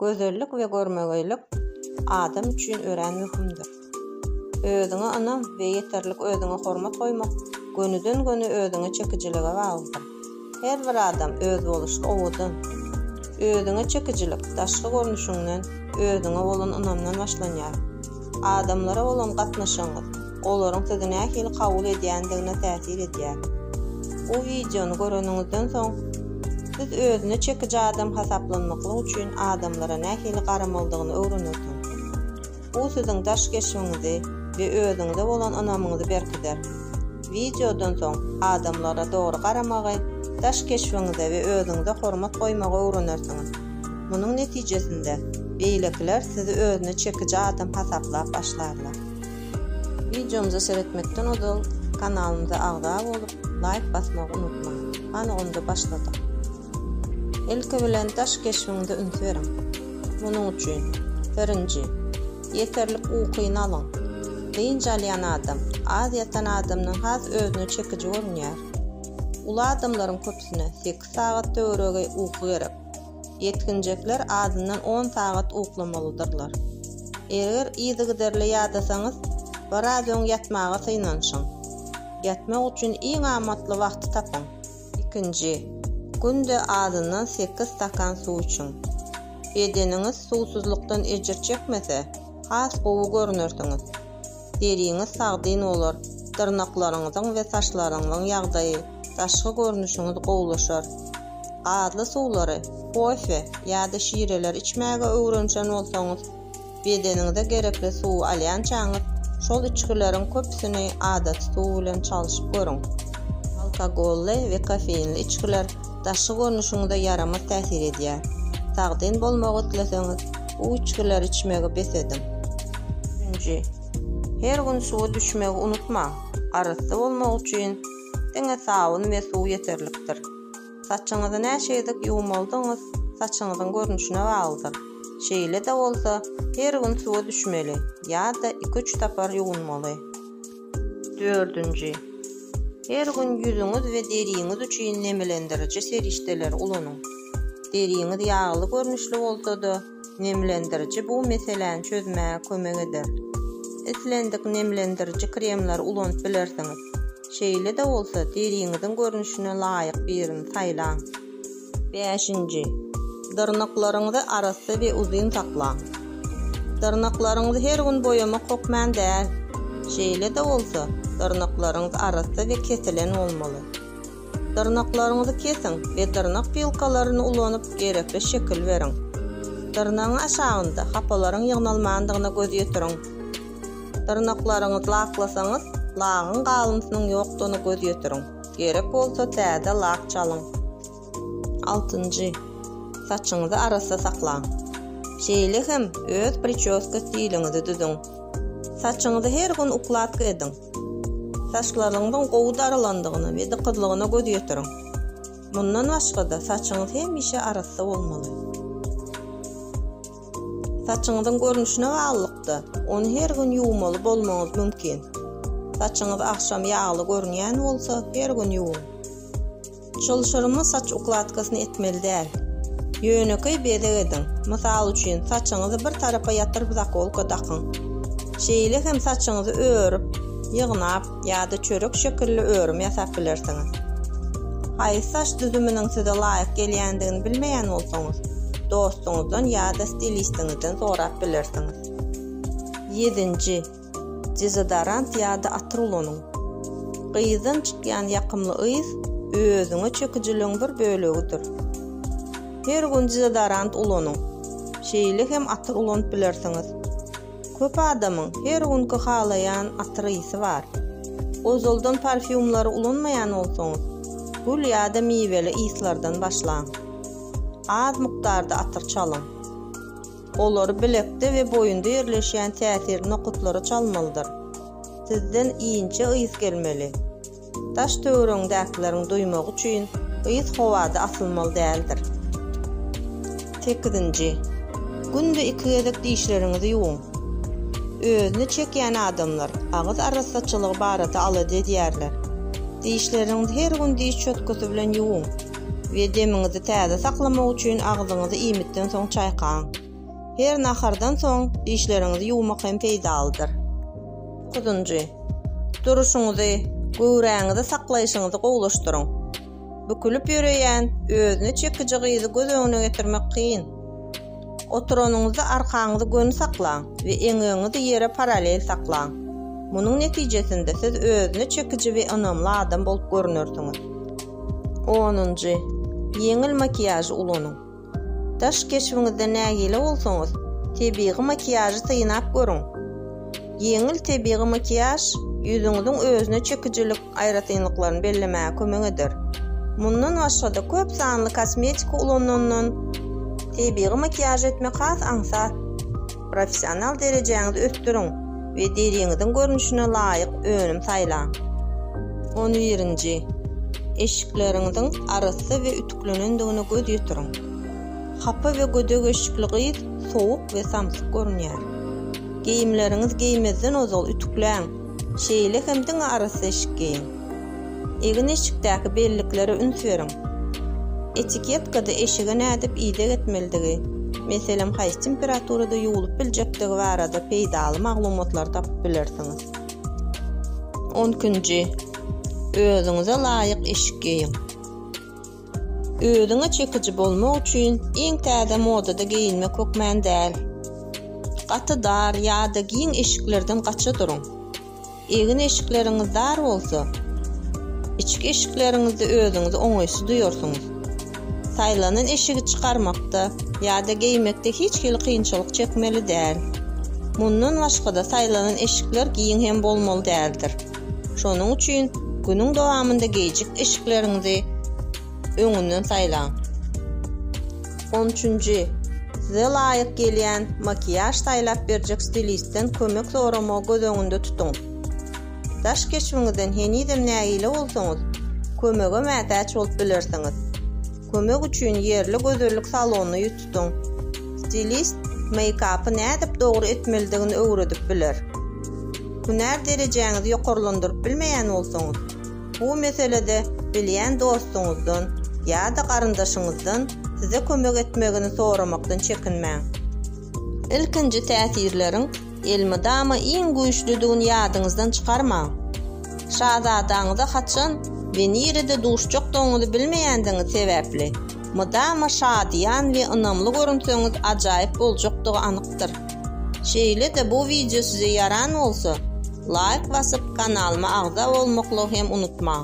Gözellik we görmegeýlik adam üçin örän möhümdir. Özüňe ynam we ýeterlik özüňe hormat goýmak gönüden-göni özüňe çekijilige baglydyr. Her bir adam özboluşly owadan. Özüňe çekijilik daşky görnüşiňden, özüňe bolan ynamdan başlanýar. Adamlara bolan gatnaşygyňyz olaryň sizi nähili kabul edýändigine täsir edýär. Bu wideony göreniňizden soň, siz özüne çekiji adam hasaplanmaklyk üçin adamlara nähili garamalydygyny öwrenersiňiz. Bu siziň daş keşbiňizi we özüňize bolan ynamyňyzy berkider. Wideodan soň, adamlara dogry garamagy, daş keşbiňize we özüňize hormat goýmagy öwrenersiňiz. Munuň netijesinde, beýlekiler sizi özüne çekiji adam hasaplap başlarlar. Wideomyza seretmekden ozal kanalymyza agza bolup laýk basmagy unutmaň. Hany onda başladyk. Ilki bilen daş keşbiňize üns beriň. Munuň üçin, birinji, ýeterlik ukyny alyň. Dynç alýan adam, az ýatan adamdan has özüne çekiji görünýär. Uly adamlaryň köpüsine sekiz sagat töweregi uky gerek. Ýetginjekler azyndan on sagat uklamalydyrlar. Eger yzygiderli ýadasaňyz, biraz öň ýatmaga synanyşyň. Ýatmak üçin iň amatly wagty tapyň. Ikinji, günde azyndan sekiz stakan suw içiň. Bedeniňiz suwsuzlykdan ejir çekmese, has gowy görnersiňiz. deriňiz sagdyn bolar, dyrnaklaryňyzyň we saçlaryňyzyň ýagdaýy, daşky görnüşiňiz gowulaşar. Gazly suwlary, kofe ýa-da şireleri içmäge öwrenişen bolsaňyz, bedeniňize gerekli suwy alýançaňyz, şol içgileriň köpüsini adaty suw bilen çalyşyp görüň. Alkogolly we kofeinli içgiler daşky görnüşiňize ýaramaz täsir edýär. Sagdyn bolmagy isleseňiz, bu içgileri içmegi bes ediň. Nji. Her gün suwa düşmegi unutmaň. Arassa bolmak üçin diňe sabyn we suw ýeterlikdir. Saçyňyzy näçe gezek ýuwmalydygyňyz saçyňyzyň görnüşine baglydyr. Şeýle-de bolsa, her gün suwa düşmeli ýa-da iki-üç sapar ýuwunmaly. Dördünji. Her gün ýüzüňiz we deriňiz üçin nemlendiriji serişdeleri ulanyň. Deriňiz ýagly görnüşli bolsa-da, nemlendiriji bu meseläni çözmäge kömek eder. Islendik nemlendiriji kremleri ulanyp bilersiňiz. Şeýle-de bolsa, deriňiziň görnüşine laýyk birini saýlaň. Bäşinji. Dyrnaklaryňyzy arassa we uzyn saklaň. Dyrnaklaryňyzy her gün boýamak hokman däl. Şeýle-de bolsa, dyrnaklaryňyz arassa we kesilen bolmaly. Dyrnaklaryňyzy kesiň we dyrnak pilkalaryny ulanyp gerekli şekil beriň. Dyrnagyň aşagynda hapalaryň ýygnalmandygyna göz ýetiriň. Dyrnaklaryňyzy laklasaňyz, lagyň galyntynyň ýokdugyna göz ýetiriň. Gerek bolsa täze lak çalyň. Altynjy, saçyňyzy arassa saklaň. Şeýle hem öz pričoska stiliňizi düzüň. Saçyňyzy her gün ukladka ediň. Saçlaryňyzyň gowy darylandygyna we dykyzlygyna göz ýetiriň. Mundan başga-da, saçyňyz hemişe arassa bolmaly. Saçyňyzyň görnüşine baglylykda, ony her gün ýuwmaly bolmagyňyz mümkin. Saçyňyz agşam ýagly görünýän bolsa, her gün ýuwuň. Çylşyrymly saç ukladkasyny etmeli däl. Ýönekeý bezeg ediň, mysal üçin, saçyňyzy bir tarapa ýatyryp zakolka dakyň. Şeýle hem saçyňyzy örüp, ýygnap, ýa-da çörek şekilli örüm ýasap bilersiňiz. Haýsy saç düzüminiň size laýyk gelýändigini bilmeýän bolsaňyz, dostuňyzdan ýa-da stilistiňizden sorap bilersiňiz. Ýedinji, dezodorant ýa-da atyr ulanyň. Gyzdan çykýan ýakymly ys özüňe çekijiligiň bir bölegidir. Her gün dezodorant ulanyň, şeýle hem atyr ulanyp bilersiňiz. Köp adamyň her günki halaýan atyr ysy bar. Ozaldan parfýumlary ulanmaýan bolsaňyz, gül ýa-da miweli yslardan başlaň. Az mukdarda atyr çalyň. Olary bilekde we boýunda ýerleşýän täsirli nokatlara çalmalydyr. Sizden inçe ys gelmeli. Daş-töweregiňdäkileriň duýmagy üçin ýygy howada asylmaly däldir. Sekizinji. Günde iki gezek dişleriňizi ýuwuň. Özüne çekýän adamlar agyz arassaçylygy barada alada edýärler. Dişleriňizi her gün diş çötgesi bilen ýuwuň we demiňizi täze saklamak üçin agzyňyzy iýmitden soň çaýkaň. Her nahardan soň dişleriňizi ýuwmak hem peýdalydyr. Dokuzynjy, duruşyňyzy, göwräňizi saklaýşyňyzy gowulaşdyryň. Bükülip ýöreýän, özüne çekiji gyzy göz öňüne getirmek kyn. Oturanyňyzda arkaňyzy göni saklaň we eňegiňizi ýere parallel saklaň. Munuň netijesinde siz özüne çekiji we ynamly adam bolup görünersiňiz. Onunjy, ýeňil makiýažy ulanyň. Daş keşbiňizde nägile bolsaňyz, tebigy makiýažy synap görüň. Ýeňil tebigy makiýaž ýüzüňiziň özüne çekijilik aýratynlyklaryny bellemäge kömek eder. Mundan başga-da köp sanly kosmetika ulanandan tebigy makiýaž etmek has aňsat. Professional derejäňizi ösdüriň we deriňiziň görnüşine laýyk önüm saýlaň. On birinji. Eşikleriňiziň arassa we ýüklenendigine göz ýetiriň. Hapa we gödek eşikli gyz sowuk we samsyk görünýär. Geýimleriňizi geýmezden ozal ütükläň, şeýle hem diňe arassa eşik geýiň. Egin-eşikdäki belliklere üns beriň. Etiketkada eşige nädip ideg etmelidigi, meselem, haýsy temperaturada ýuwlup biljekdigi barada peýdaly maglumatlary tapyp bilersiňiz. On ikinji, Özüňize laýyk eşik geýiň. Özüňe çekiji bolmak üçin iň täze modada geýinmek hökmän däl. Gaty dar ýa-da giň eşiklerden gaça duruň. Egin-eşikleriňiz dar bolsa, içki eşikleriňizde özüňizi oňaýsyz duýarsyňyz. Saýlanan eşigi çykarmakda ýa-da geýmekde hiç hili kynçylyk çekmeli däl. Mundan başga-da, saýlanan eşikler giň hem bolmaly däldir. Şonuň üçin günüň dowamynda geýjik eşikleriňizi öňünden saýlaň. On üçünji, size laýyk gelýän makiýaž saýlap berjek stilistden kömek soramagy göz öňünde tutuň. Daş keşbiňizden henizem nägile bolsaňyz, kömege mätäç bolup bilersiňiz. Kömek üçin ýerli gözellik salonyna ýüz tutduň. Stilist meýkapy nädip dogry etmelidigini öwredip biler. Hünär derejäňizi ýokarlandyryp bilmeýän bolsaňyz, bu meselede bilýän dostuňyzdan ýa-da garyndaşyňyzdan size kömek etmegini soramakdan çekinmäň. Ilkinji täsirleriň Elmydama iň güýçlüdigini ýadyňyzdan çykarmaň. Şazadaňyza haçan we nirede duşjakdygyňyzy bilmeýändigiňiz sebäpli, mydama şadyýan we ynamly görünseňiz ajaýyp boljakdygy anykdyr. Şeýle-de bu wideo size ýaran bolsa, laýk basyp kanalyma agza bolmaklygy hem unutmaň.